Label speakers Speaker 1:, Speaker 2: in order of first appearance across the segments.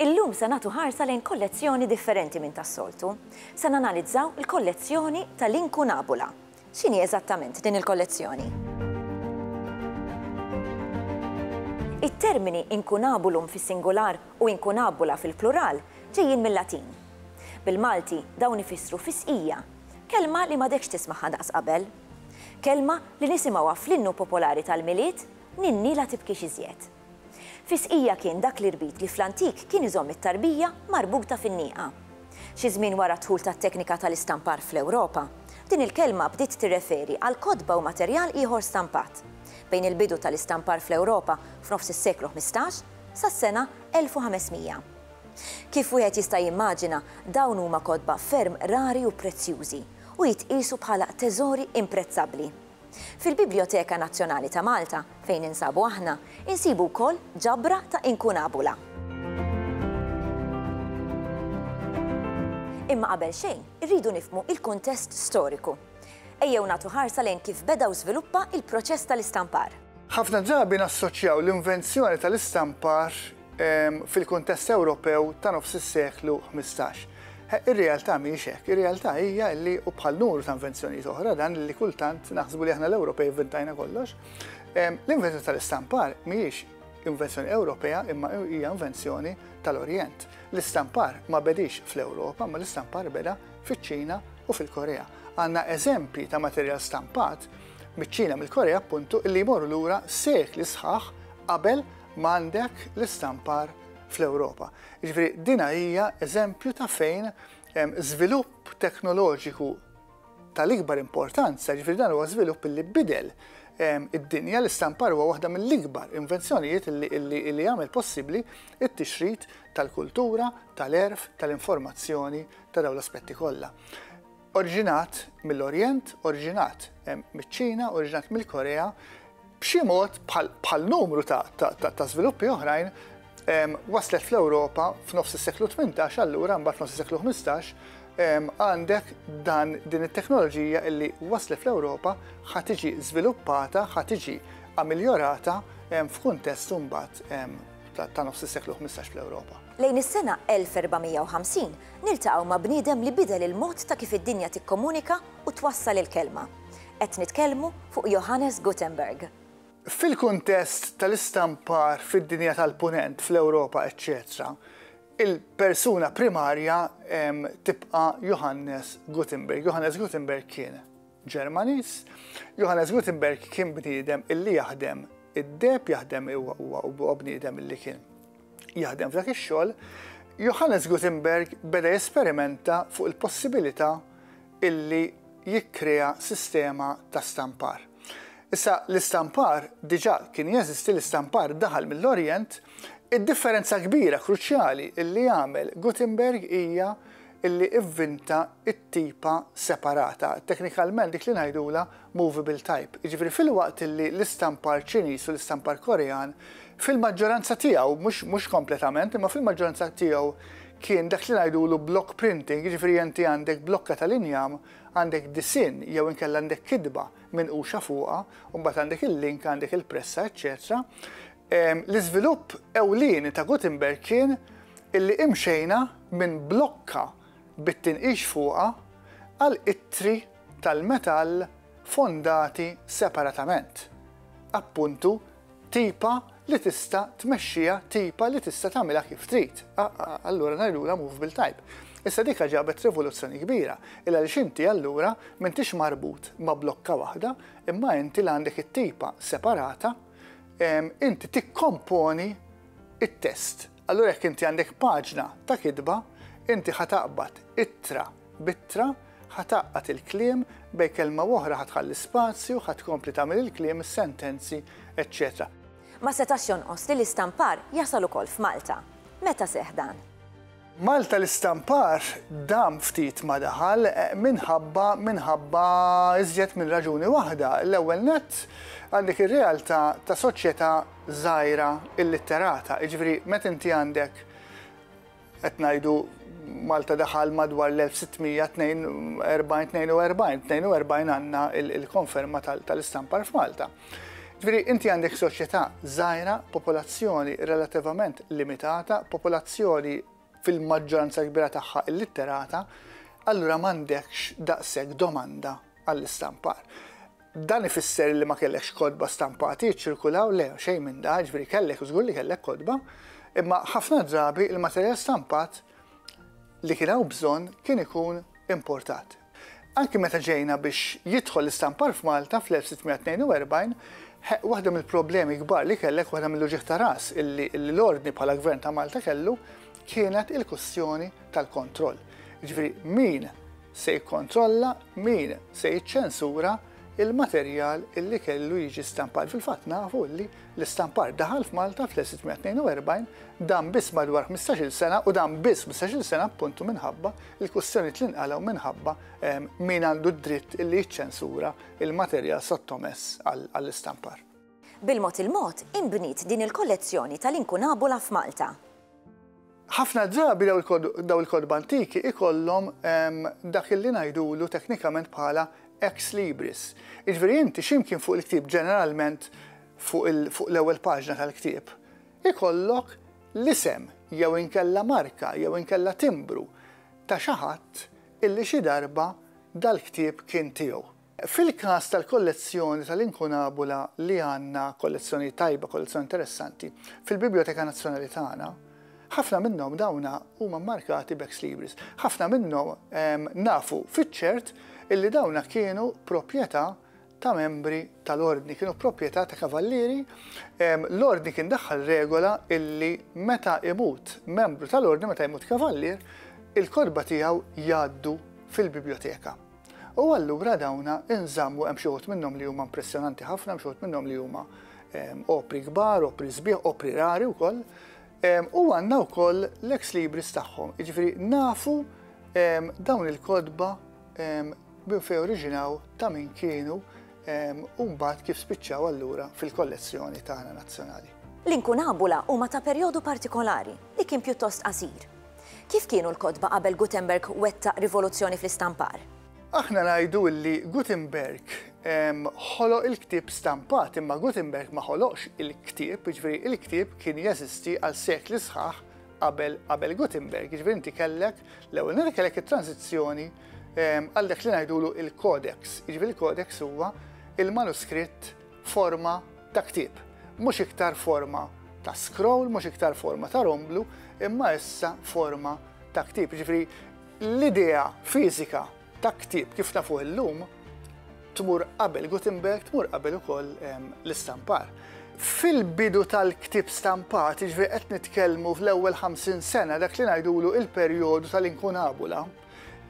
Speaker 1: Illum se nagħtu ħarsa lejn kollezzjoni differenti minn tas-soltu. Se nanalizzaw il-kollezzjoni tal-Inkunabula. X'inhi eżattament din il-kollezzjoni? It-termini inkunabulum fis-singular u inkunabula fil-plural ġejjin mil-Latin. Bil-Malti dawn ifissru fisqija Kelma li m'għadekx tismagħha daqs qabel. Kelma li nisimgħuha fl-innu popolari tal-Milied, Ninni la tibkix iżjed. Fis-sqija kien dak l-irbit li fl-antik kien iżomm it-tarbija marbuta fin-nieqa. Xi żmien wara d-dħul tat-teknika tal-istampar fl-Ewropa, din il-kelma bdiet tirreferi għal kotba u materjal ieħor stampat. Bejn il-bidu tal-istampar fl-Ewropa f'nofs is-seklu ħmistax sas-sena 1500, Kif wieħed jista' jimmaġina, dawn huma kotba ferm rari u prezzjużi, u jitqiesu bħala teżori imprezzabbli. Fil-Bibljoteka Nazzjonali ta' Malta, fejn ninsabu aħna, insibu wkoll ġabra ta' inkunabula. Imma qabel xejn, irridu nifhmu il-kuntest storiku. Ejjew nagħtu ħarsa lejn kif beda u żviluppa il-proċess tal-istampar. Ħafna drabi
Speaker 2: nassoċjaw l-invenzjoni tal-istampar fil-kuntest Ewropew ta' nofs is-seklu ħmistax. Ir-realtà mhijiex hekk, ir-realtà hija li u bħal numru ta' invenzjonijiet oħra dan li kultant naħsbu li aħna l-Ewropej inventajna kollox, l-invenzjoni tal-istampar mhijiex invenzjoni Ewropea imma hija invenzjoni tal-Orjent. L-istampar ma bedix fl-Ewropa, ma l-istampar beda fiċ-Ċina u fil-Korea. Għandna eżempji ta' materjal stampat miċ-Ċina mill-Korea appuntu illi jmorru lura sekli sħaħ qabel M'għandek l-istampar fl-Ewropa. Jiġifieri dina hija eżempju ta' fejn żvilupp teknoloġiku tal-ikbar importanza, jiġifieri dan huwa żvilupp li bidel id-dinja li stampar huwa waħda mill-ikbar invenzjonijiet li jagħmel possibbli t-tixrid tal-kultura, tal-għerf, tal-informazzjoni ta' dawn l-aspetti kollha. Oriġinat mill-Orjent, oriġinat miċ-Ċina, oriġinat mill-Korea, b'xi mod bħal numru ta' żviluppi oħrajn waslet fl-Ewropa f'nofs is-seklu 18 allura mbagħad f'nofs is-seklu 15 għandek dan din it-teknoloġija illi waslet fl-Ewropa ħa tiġi żviluppata, ħa tiġi amiljorata f'kuntest imbagħad ta' nofs is-seklu 15 fl-Ewropa. Lejn is-sena 1450
Speaker 1: niltaqgħu ma' bniedem li bidel il-mod ta' kif id-dinja tikkomunika u twassal il-kelma. Qed nitkellmu fuq Johannes Gutenberg. Fil-kuntest
Speaker 2: tal-istampar fid-dinja tal-Punent, fl-Ewropa, eċċetera, il-persuna primarja tibqa' Johannes Gutenberg. Johannes Gutenberg kien Ġermaniż. Johannes Gutenberg kien bniedem illi jaħdem id-deheb, jaħdem huwa bniedem illi kien Jaħdem f'dak ix-xogħol, Johannes Gutenberg beda jesperimenta fuq il-possibilità illi jikkrea sistema ta' stampar. Issa l-istampar diġà kien jeżisti, l-istampar daħal mill-Orjent, id-differenza kbira kruċjali illi għamel Gutenberg hija illi vvinta t-tipa separata, teknikalment dik li ngħidulha movable type, jiġifieri filwaqt li l-istampar Ċiniż u l-istampar Korean fil-maġġoranza tiegħu, mhux mhux kompletament, imma fil-maġġoranza tiegħu kien dak li ngħidulu block printing, jiġifieri inti għandek blokka tal-injam, għandek disinn jew inkella għandek kitba minquxa fuqha, u mbagħad għandek il-link, għandek il-pressa, eċċetera. L-iżvilupp ewlieni ta' Gutenberg kien illi imxejna minn blokka bit-tinqix fuqha għal ittri tal-metall fondati separatament, appuntu tipa li tista' tmexxiha tipa li tista' tagħmilha kif trid, allura ngħidulha movable type. Issa dika ġabet rivoluzzjoni kbira, il-għaliex inti allura m'intix marbut ma' blokka waħda, imma inti li għandek it-tipa separata, inti tikkomponi t-test. Allura jekk inti għandek paġna ta' kitba, inti ħa taqbad ittra, b'ittra, ħa tgħaqqad il-kliem, bejn kelma u oħra ħa tħalli spazju, ħa tkompli tagħmel il-kliem, is-sentenzi, eċċetera. Ma setax
Speaker 1: jonqos li l-istampar jasal ukoll f'Malta. Meta seħħ dan? Malta
Speaker 2: l-istampar dam ftit ma daħal eh, minħabba minħabba iżjed minn raġuni waħda. L-ewwel nett għandek ir-realtà ta' soċjetà żgħira illitterata, jiġifieri meta inti għandek Qed ngħidu Malta daħal madwar l-1642, 42 għandna il-konferma tal-istampar f'Malta. Ġviri, inti għandek soċjetà żgħira, popolazzjoni relativament limitata, popolazzjoni fil-maġġoranza kbira tagħha illitterata, allura m'għandekx daqshekk domanda għall-istampar. Dan ifisser li ma kellekx kotba stampati jiċċirkulaw? Le, xejn minn dan, jiġifieri kellek, żgur li kellek kotba, imma ħafna drabi l-materjal stampat li kien hawn bżonn kien ikun importat. Anki meta ġejna biex jidħol l-istampar f'Malta fl-1642, waħda mill-problemi kbar li kellek, waħda mill-uġigħ ta' ras illi l-Ordni bħala Gvern ta' Malta kellu, kienet il-kwistjoni tal-kontroll. Jiġifieri min se jikkontrolla min se jiċċensura l-materjal li kellu jiġi stampat. Fil-fatt nafu li l-istampar daħal f'Malta fl-1642 dan biss madwar 15-il sena u dan biss 15-il sena appuntu minħabba l-kwistjonijiet li nqalgħu minħabba ehm, min għandu d-dritt li jiċċensura l-materjal sottomess għall-istampar. Bil-mod
Speaker 1: il-mod inbniet din il-kollezzjoni tal-inkunabula f'Malta.
Speaker 2: Ħafna drabi dawn il-kotba antiki ikollhom dak illi ngħidulu teknikament bħala ex libris. Jiġifieri inti xi mkien fuq il-ktieb, ġeneralment fuq l-ewwel paġna tal-ktieb, ikollok l-isem jew inkella marka jew inkella timbru ta' xi ħadd illi xi darba dal-ktieb kien tiegħu. Fil-każ tal-kollezzjoni tal-Incunabula li għandna kollezzjoni tajba, kollezzjoni interessanti, fil-Bibljoteka Nazzjonali tagħna, ħafna minnhom dawn huma mmarkati b'ex libris. Ħafna minnhom nafu fiċ-ċert illi dawn kienu proprjetà ta' membri tal-Ordni, kienu proprjetà ta' kavallieri. L-Ordni kien daħħal regola illi meta imut membru tal-Ordni, meta jmut kavallier, il-kotba tiegħu jgħaddu fil-Bibljoteka. U allura dawn inżammu hemm xi wħud minnhom li huma impressjonanti ħafna, hemm xi wħud minnhom li huma ehm, opri kbar, opri sbieħ, opri rari wkoll. Ehm, u għandna wkoll l-ex libris tagħhom, jiġifieri nafu ehm, dawn il-kodba minn fejn oriġinaw ta' min kienu u mbagħad kif spiċċaw allura fil-kollezzjoni tagħna nazzjonali. L-inkunabula
Speaker 1: huma ta' perjodu partikolari li kien pjuttost qasir Kif kienu l-kotba qabel Gutenberg wettaq rivoluzzjoni fl-istampar? Aħna ngħidu
Speaker 2: li Gutenberg ħoloq il-ktieb stampat, imma Gutenberg ma ħoloqx il-ktieb, jiġifieri il-ktieb kien jeżisti għal sekli sħaħ qabel qabel Gutenberg, jiġifieri inti kellek l-ewwel nett kellek it-transizzjoni għal dak li ngħidulu il-codex, jiġifieri il-codex huwa il-manuskritt forma ta' ktieb. Mhux iktar forma ta' scroll, mhux iktar forma ta' romblu, imma issa forma ta' ktieb. Jiġifieri l-idea fiżika ta' ktieb kif nafuh illum tmur qabel Gutenberg, tmur qabel ukoll l-istampar. Fil-bidu tal-ktieb stampat, jiġifieri qed nitkellmu fl-ewwel 50 sena dak li ngħidulu il-perjodu tal-inkunabula,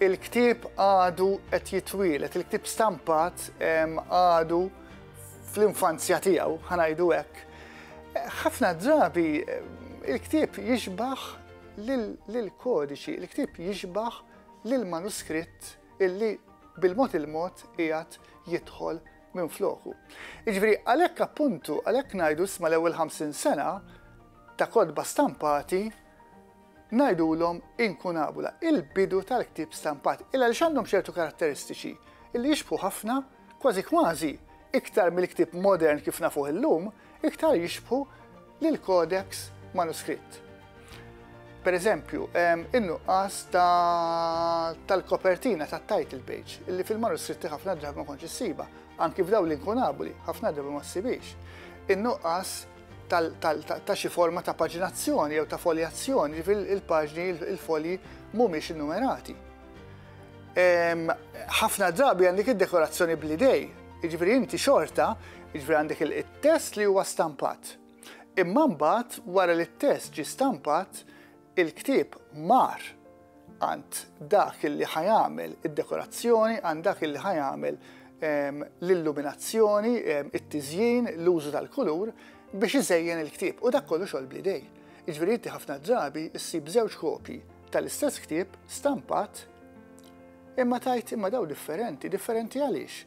Speaker 2: Il-ktieb għadu qed jitwielet, il-ktieb stampat għadu fl-infanzja tiegħu, ħanajdu hekk. Ħafna drabi il-ktieb jixbaħ lill-kodiċi, il-ktieb jixbaħ lill-manuskritt illi bil-mod il-mod qiegħed jidħol minn floku. Iġveri, għalhekk appuntu, għalhekk ngħidu sma l-ewwel 50 sena ta' kodba stampati Ngħidulhom inkunabula, il-bidu tal-ktieb stampat, il għaliex għandhom ċertu karatteristiċi li jixbħu ħafna, kważi kważi, iktar mill-ktieb modern kif nafuh illum, iktar jixbħu lill-codex manuskritt. Per eżempju, in-nuqqas tal-kopertina tat-title page, illi fil-manuskritti ħafna drabi ma kontx issiba, anki f'daw l-inkunabuli, ħafna drabi ma ssibix. In-nuqqas ta' xi forma ta' paġinazzjoni jew ta' foljazzjoni, ġifieri il-paġni, il-folji mhumiex innumerati. Ehm, ħafna drabi għandek id-dekorazzjoni bl-idej, jiġifieri inti xorta, jiġifieri għandek il-test li huwa stampat. Imma mbagħad wara li t-test ġi stampat, Il-ktieb mar għand dak li ħa jagħmel id-dekorazzjoni, għand dak li ħa jagħmel l-illuminazzjoni, it-tiżjin, l-użu tal-kulur biex iżejjen il-ktieb u dak kollu xogħol bl-idej. Jiġifieri inti ħafna drabi ssib żewġ kopji tal-istess ktieb stampat imma tajt imma daw differenti, differenti għaliex?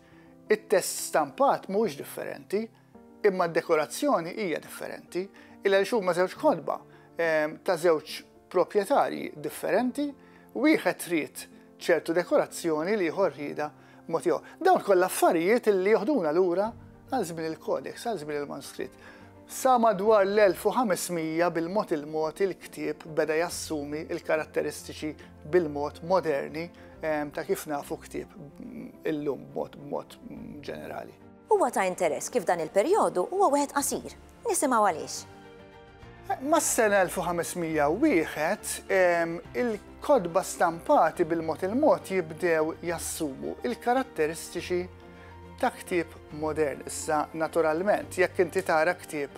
Speaker 2: It-test stampat mhuwiex differenti, Imma d-dekorazzjoni hija differenti, il għaliex huma żewġ kotba ta' żewġ proprjetarji differenti, wieħed trid ċertu dekorazzjoni, l-ieħor rriedha mod ieħor. Dawn kollha affarijiet li joħduna lura għal żmien il-codex, għal żmien il-manuskritt. Sa madwar l-1500 bil-mod il-mod il-ktieb beda jassumi l-karatteristiċi bil-mod moderni ta' kif nafu ktieb illum b'mod ġenerali. Huwa ta' interess
Speaker 1: kif dan il-perjodu huwa wieħed qasir. Nisimgħu għaliex.
Speaker 2: Mas-sena 1501, il-kotba stampati bil-mod il-mod jibdew jassumu l-karatteristiċi ta' ktieb modern. Issa, naturalment, jekk inti tara ktieb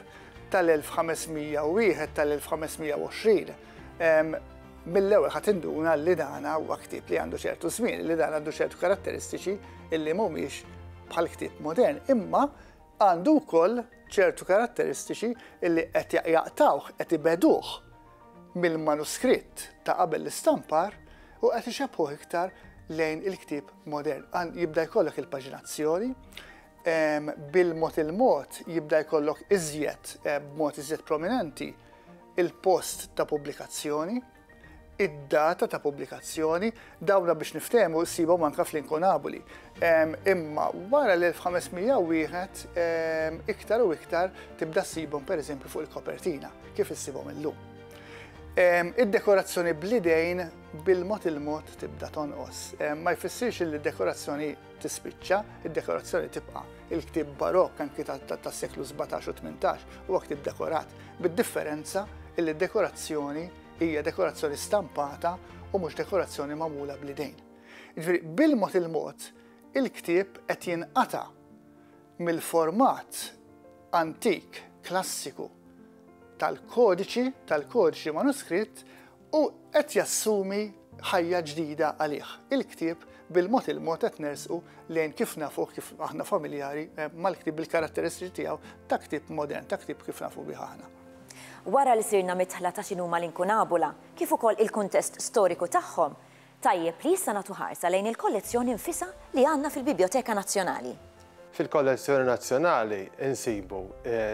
Speaker 2: tal-1501, tal-1520, mill-ewwel ħadd induna li dana huwa ktieb li għandu ċertu żmien, li dan għandu ċertu karatteristiċi illi mhumiex bħal ktieb modern, imma għandu wkoll ċertu karatteristiċi illi qed jaqtawh qed ibeduh mill-manuskritt ta' qabel l-istampar u qed ixebħuh iktar lejn il-ktieb modern. Jibda jkollok il-paġinazzjoni, bil-mod il-mod jibda jkollok iżjed, eh, b'mod iżjed prominenti, il-post ta' pubblikazzjoni, id-data ta' pubblikazzjoni, dawna biex niftehmu ssibhom anke fl-inkunaboli. Imma wara l-1501 iktar u iktar tibda ssibhom pereżempju fuq il-kopertina kif issibhom illum. Id-dekorazzjoni bl-idejn bil-mod il-mod tibda tonqos. Ma jfissirx li d-dekorazzjoni tispiċċa, id-dekorazzjoni tibqa'. Il-ktieb Barokk anki tas-seklu 17 u 18 huwa ktieb dekorat, bid-differenza illi d-dekorazzjoni hija dekorazzjoni stampata u mhux dekorazzjoni magħmula bl-idejn. Ġifieri bil-mod il-mod il-ktieb qed jinqata' mill-format antik klassiku tal-kodiċi, tal-kodiċi manuskritt U qed jassumi ħajja ġdida għalih. Il-ktieb bil-mod il-mod qed nersqu lejn kif nafuh kif aħna familjari mal-ktieb bil-karatteristiċi tiegħu ta' ktieb modern, ta' ktieb kif nafu bih aħna. Wara li
Speaker 1: sirna midħla ta' x'inhuma l-inkunabula, kif ukoll il-kuntest storiku tagħhom, Tajjeb li issa nagħtu ħarsa lejn il-kollezzjoni nfisha li għandna fil-Bibjoteka Nazzjonali. Fil-Kollezzjoni
Speaker 3: Nazzjonali nsibu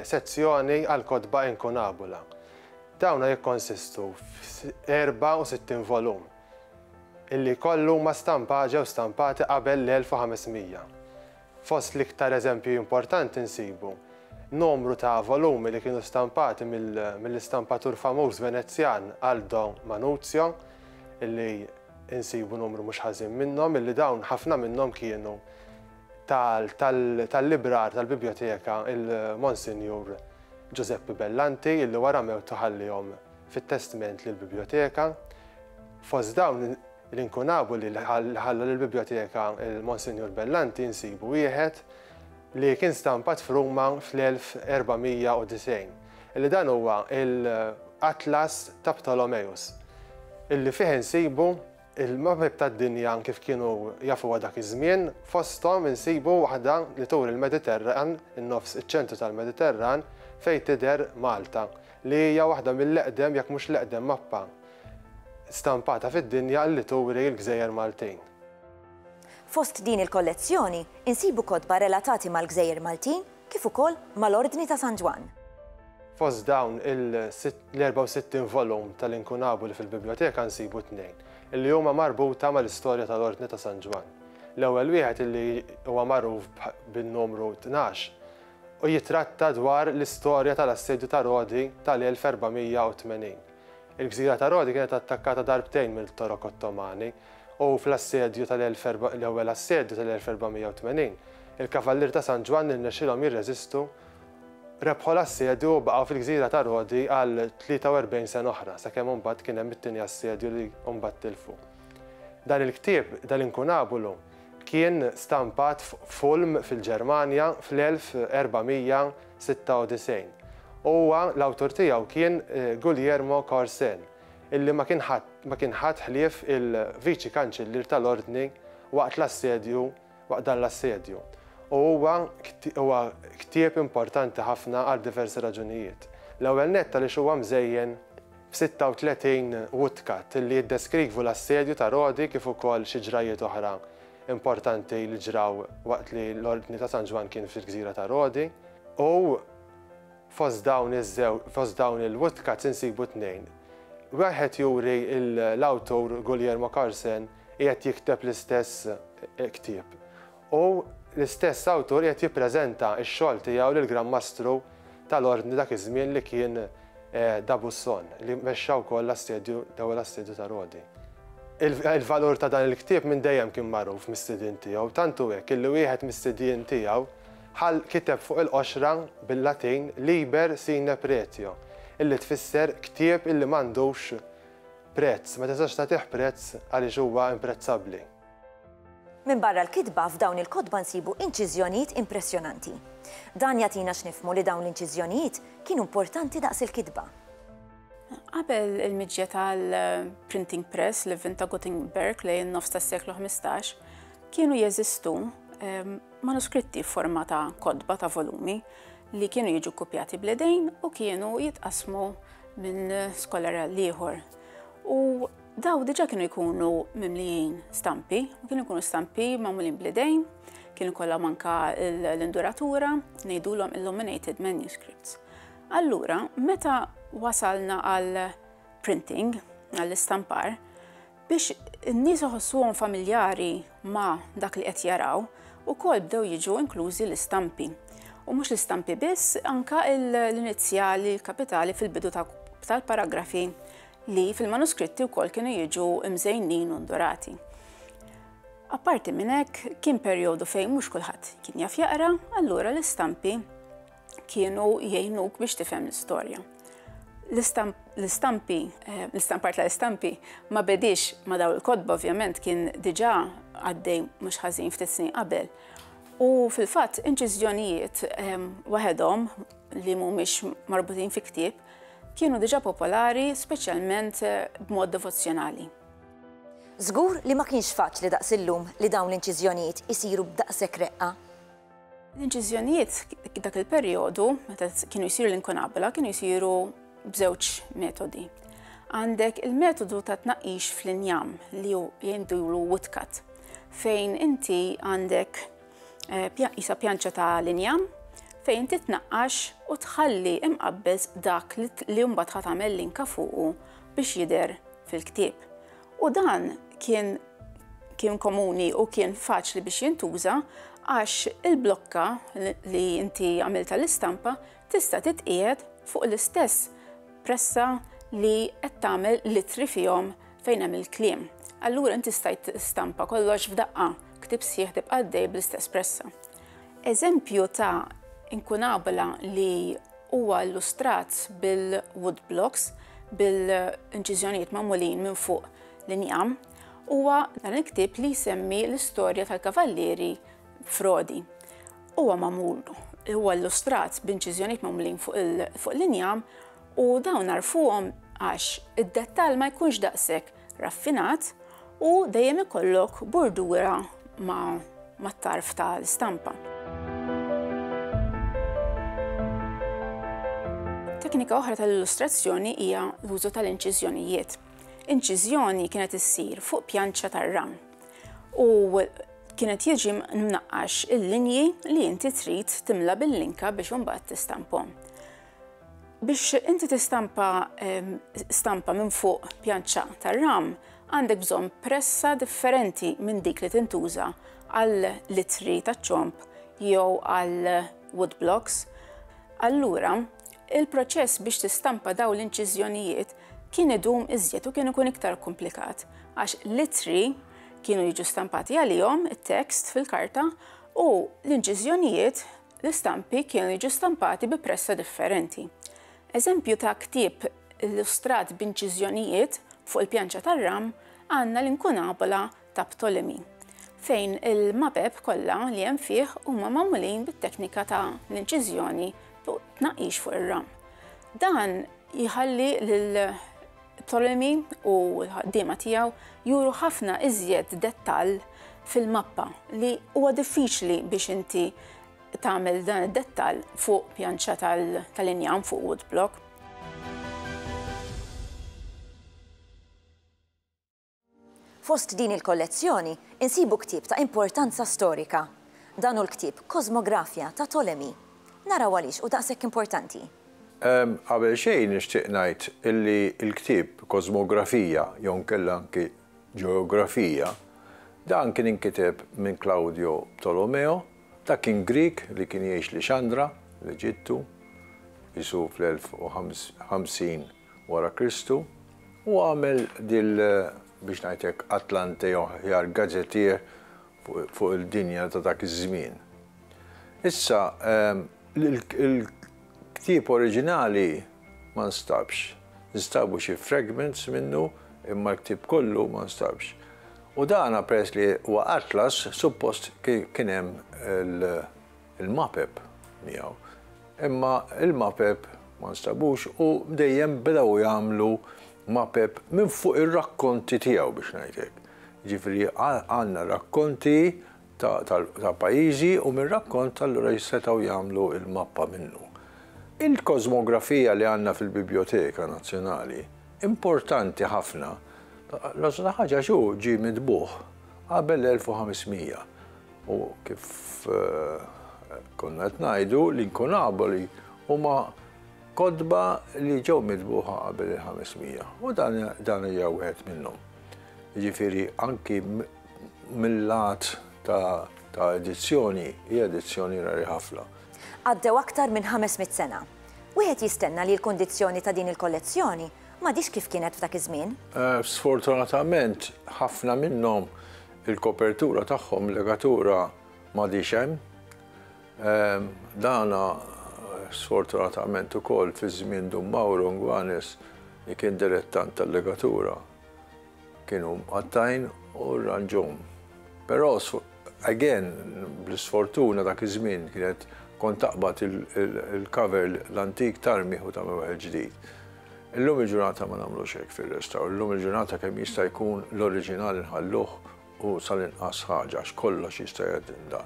Speaker 3: sezzjoni għall-kotba inkunabula. Dawna jikkonsistu f'64 volum illi jkollu ma stampaġew stampati qabel l-1500. Fost l-iktar eżempji importanti nsibu numru ta' volumi li kienu stampati mill-istampatur famuż Venezjan Aldo Manuzio, illi nsibu numru mhux ħażin minnhom, illi dawn ħafna minnhom kienu tal-librar tal-Bibljoteka il-Monsinjur Ġużeppi Bellanti, illi wara mewtu ħallihom fit-testment lill-Bibljoteka. Fost dawn. L-inkunabu li ħalla lill-Bibljoteka il-Monsinjur Bellanti nsibu wieħed li kien stampat f'Ruma fl-1490, li dan huwa l-Atlas ta' Ptolomeus, li fih insibu l-mapep tad-dinja kif kienu jafuha dak iż-żmien, fosthom insibu waħda li turi l-Mediterran, in-nofs, iċ-ċentru tal-Mediterran, fejn tidher Malta, li hija waħda mill-eqdem jekk mhux l-eqdem mappa stampata fid-dinja li turi l-gżejjer Maltin.
Speaker 1: Fost din il-kollezzjoni insibu kotba relatati mal-gżejjer Maltin kif ukoll mal-Ordni ta' San Ġwann. Fost
Speaker 3: dawn l-64 volum tal-inkunabu li fil-Bibljoteka nsibu tnejn li huma marbuta mal-istorja tal-Ordni ta' San Ġwann. L-ewwel wieħed li huwa magħruf bin-numru tnax u jittratta dwar l-istorja tal-Assedju ta' Rodi tal-1480. Il-gżira ta' Rodi kienet attakkata darbtejn mill-Torok Ottomani, u fl-assedju tal-ewwel assedju tal-1480, il-Kavallieri ta' San Ġwann irnexxielhom jirreżistu, rebħu l-assedju u baqgħu fil-gżira ta' Rodi għal 43 sena oħra, sakemm imbagħad kien hemm it-tieni assedju li mbagħad tilfu. Dan il-ktieb, dal-inkunabulu, kien stampat f'Ulm fil-Ġermanja fl-1400, 96. Huwa, l-awtur tiegħu kien Guglielmo Corsen, illi ma kien ħadd ma kien ħadd ħlief il-Viċi Kanċillier tal-Ordni waqt l-assedju waqt dan l-assedju, u huwa huwa ktieb importanti ħafna għal diversi raġunijiet. L-ewwel nett għaliex huwa mżejjen 36 Woodcut, li jiddeskrikvu l-assedju ta' Rodi kif ukoll xi ġrajjiet oħra importanti li ġraw waqt li l-Ordni ta' San Ġwann kien fil-gżira ta' Rodi. U fost dawn iż-żew, fost dawn il-woodcuts insibu tnejn. Wieħed juri l-awtur Guglielmo Carsen qiegħed jikteb l-istess ktieb. u l-istess awtur qiegħed jippreżenta x-xogħol tiegħu lill-Gran Mastru tal-Ordni dak iż-żmien li kien D'Abuisson, li mexxa wkoll l-assedju, l-ewwel assedju ta' Rodi. Il-valur ta' dan il-ktieb minn dejjem kien magħruf mis-sidien tiegħu, tant hu hekk illi wieħed mis-sidien tiegħu ħall kiteb fuq il-qoxra bil-Latin Liber sine pretio, illi tfisser ktieb illi m'għandux prezz, ma tistax tagħtih prezz għaliex huwa imprezzabbli.
Speaker 1: Minbarra l-kitba, f'dawn il-kotba nsibu inċiżjonijiet impressjonanti. Dan jagħtina x'nifhmu li dawn l-inċiżjonijiet kienu importanti daqs il-kitba.
Speaker 4: Qabel il-miġja tal-printing press li vvinta Gutenberg lejn in-nofs tas-seklu 15, kienu jeżistu ehm, manuskritti f'forma ta' kotba ta' volumi li kienu jiġu kopjati bledejn u kienu jitqasmu minn skolar l-ieħor. U Daw diġa kienu jkunu mimlijin stampi, u kienu jkunu stampi mamulin blidejn, kienu kollha manka l-induratura, ngħidulhom illuminated manuscripts. Allura, meta wasalna għal printing, għall-istampar, biex n-nies iħossuhom familjari ma' dak li qed jaraw, ukoll bdew jiġu inklużi l-istampi. U mhux l-istampi biss, anka l-inizjali, l-kapitali fil-bidu tal-paragrafi li fil-manuskritti wkoll kienu jiġu mżejnin u ndurati. Apparti minn hekk, kien perjodu fejn mhux kulħadd kien jaf jaqra, allura l-istampi kienu jgħinuk biex tifhem l-istorja. L-istampi, eh, l-istampar tal-istampi ma bedix ma daw il-kodba ovvjament kien diġà għaddej mhux ħażin ftit snin qabel. U fil-fatt inċiżjonijiet eh, waħedhom li mhumiex marbutin fi ktieb kienu diġà popolari speċjalment b'mod devozzjonali.
Speaker 1: Żgur li ma kienx faċli daqs illum li dawn l-inċiżjonijiet isiru b'daqshekk reqqa. L-inċiżjonijiet
Speaker 4: dak il-perjodu, meta kienu jsiru l-inkunabula, kienu jsiru b'żewġ metodi. Għandek il-metodu ta' tnaqqix fl-injam li jindulu woodcut, fejn inti għandek eh, isa pjanċa ta' l-injam, fejn titnaqqax u tħalli imqabbez dak li mbagħad ħat tagħmel linka fuqu biex jidher fil-ktieb. U dan kien kien komuni u kien faċli biex jintuża għax il-blokka li inti għamilta l-istampa tista' titqiegħed fuq l-istess pressa li qed tagħmel l-ittri fihom fejn hemm il-kliem. Allura inti stajt tistampa kollox f'daqqa, ktieb sħiħ tibqa' għaddej bl-istess pressa. Eżempju ta' inkunabla li huwa illustrat bil-wood blocks, bil-inċiżjonijiet magħmulin minn fuq l-injam, huwa dan il-ktieb li jsemmi l-istorja tal-kavallieri Frodi. Huwa magħmul, huwa illustrat b'inċiżjonijiet magħmulin fuq l-injam u dawn nagħrfuhom għax id-dettall ma jkunx daqshekk raffinat u dejjem ikollok burdura mat-tarf tal-istampa. Teknika oħra tal-illustrazzjoni hija l-użu tal-inċiżjonijiet. Inċiżjoni kienet issir fuq pjanċa tar-ram u kienet jiġi mnaqqax il-linji li inti trid timla bil-linka biex imbagħad tistampom. Biex inti tistampa ehm, stampa minn fuq pjanċa tar-ram, għandek bżonn pressa differenti minn dik li tintuża għal litri taċ-ċomp jew għal woodblocks. Allura, Il-proċess biex tistampa dawn l-inċiżjonijiet kien idum iżjed u kien ikun iktar komplikat għax l-ittri kienu jiġu stampati għalihom it-tekst fil-karta u l-inċiżjonijiet l-istampi kienu jiġu stampati bi pressa differenti. Eżempju ta' ktieb illustrat b'inċiżjonijiet fuq il-pjanċa tar-ram għandna l-inkunabula ta' Ptolemy, fejn il-mapep kollha li hemm fih huma magħmulin bit-teknika ta' l-inċiżjoni fuq tnaqqix fuq ir-ram. Dan jħalli lil Ptolemy u l-ħaddiema tiegħu juru ħafna iżjed dettall fil-mappa li huwa diffiċli biex inti tagħmel dan id-dettall fuq pjanċa tal-injam fuq woodblock.
Speaker 1: Fost din il-kollezzjoni insibu ktieb ta' importanza storika. Dan hu l-ktieb Cosmographia ta' Tolemi. Naraw għaliex hu daqshekk importanti. Qabel
Speaker 5: xejn nixtieq ngħid illi l-ktieb Cosmographia jew inkella anki Geographia, dan kien inkiteb minn Claudio Ptolomeo, dak kien Grieg li kien jgħix Lixandra, l-Eġittu, qisu fl-1050 wara Kristu. Hu għamel dil, biex ngħid hekk, Atlante jew aħjar gazetier fuq il-dinja ta' dak iż-żmien. Issa, il-ktieb oriġinali ma nstabx. Instabu xi fragments minnu imma l-ktieb kollu ma nstabx. U dan peress li huwa atlas, suppost kien hemm il, il-mapep miegħu. Imma il-mapep ma nstabux u dejjem bdew jagħmlu mapep minn fuq ir-rakkonti tiegħu biex ngħid hekk. Ġifieri għandna rakkonti ta' pajjiżi u mir-rakkont allura jissetgħu jagħmlu l-mappa minnu. Il-kosmografija li għandna fil-Bibjoteka Nazzjonali importanti ħafna, l-għożla ħaġa għax hu ġie mitbugħ qabel l-1500. U kif konna qed ngħidu, l-inkunaboli huma kotba li ġew mitbuħa qabel il-500 u dan hija wieħed minnhom. Jiġifieri anki mill-lat ta' edizzjoni hija edizzjoni rari ħafna. Għaddew aktar
Speaker 1: minn 500 sena. Wieħed jistenna li l-kundizzjoni ta' din il-kollezzjoni m'għadhiex kif kienet f'dak iż-żmien. Sfortunatament
Speaker 5: ħafna minnhom Il-kopertura tagħhom, legatura m'għadhiex hemm. Dan sfortunatament ukoll fi żmien Dun Mawro Ngwanes li kien dilettant tal-legatura kienu mqattgħin u rranġhom. Però again bl-isfortuna dak iż-żmien kienet kont taqbad il-cover l-antik tarmih u tagħmel wieħed ġdid. Illum il-ġurnata ma nagħmlux hekk fir-restawr, illum il-ġurnata kemm jista' jkun l-oriġinal inħalluh u sal-inqas ħaġa għax kollox jista' jgħaddinda.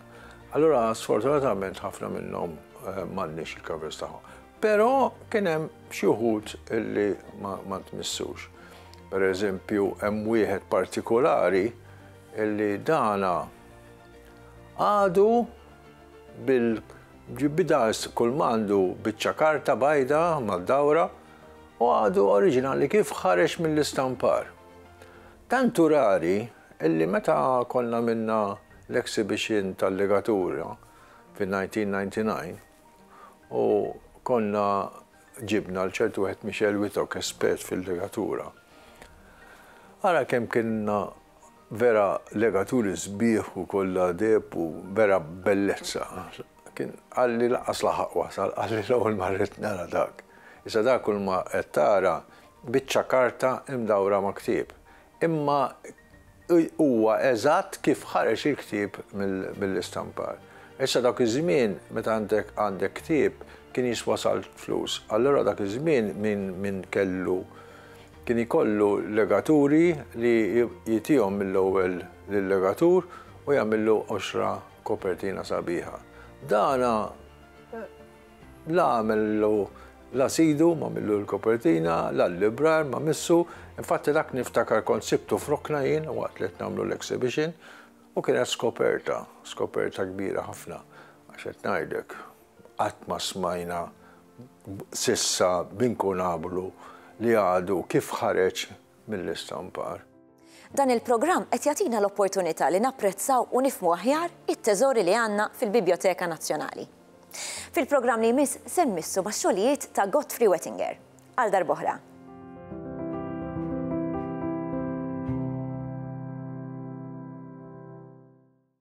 Speaker 5: Allura sfortunatament ħafna minnhom eh, m'għandniex il-covers tagħhom. Però kien hemm xi wħud illi ma tmissux. Per eżempju, hemm wieħed partikolari illi dana għadu bil-ġibbi daqs kull m'għandu biċċa karta bajda mad-dawra u għadu oriġinali kif ħareġ mill-istampar. Tant hu rari illi meta konna għamilna l-exhibition tal-legatura fin-1999 u konna ġibna l-ċertu wieħed Michel Witok espert fil-legatura. Ara kemm kienna Vera legaturi sbieħ u kollha deheb u vera bellezza. Kien qalli lanqas laħaq wasal, qalli l-ewwel ma ridt nara dak. Issa dak kulma qed tara biċċa karta imdawra ma' ktieb. Imma huwa eżatt kif ħareġ il-ktieb mill-istampar. Issa dawk iż-żmien meta għandek għandek ktieb kien jiswa sal flus. Allura dak iż-żmien min min kellu Kien ikollu legaturi li jtihom mill-ewwel lil-legatur u jagħmillu qoxra kopertina sabiħa. Dan la għamillu la sidu m'għamillu l-kopertina, la l-librar ma missu, infatti dak niftakar kont sibtu f'rokna jien waqt li qed nagħmlu l-exhibition u kienet skoperta, skoperta kbira ħafna, għax qed ngħidlek. Qatt ma smajna s'issa b'inkunablu li għadu kif ħareġ mill-istampar. Dan
Speaker 1: il-programm qed jagħtina l-opportunità li napprezzaw u nifhmu aħjar it-teżori li għandna fil-Bibjoteka Nazzjonali. Fil-programm li jmiss se nmissu max-xogħlijiet ta' Godfrey Wettinger. Għal darb'oħra.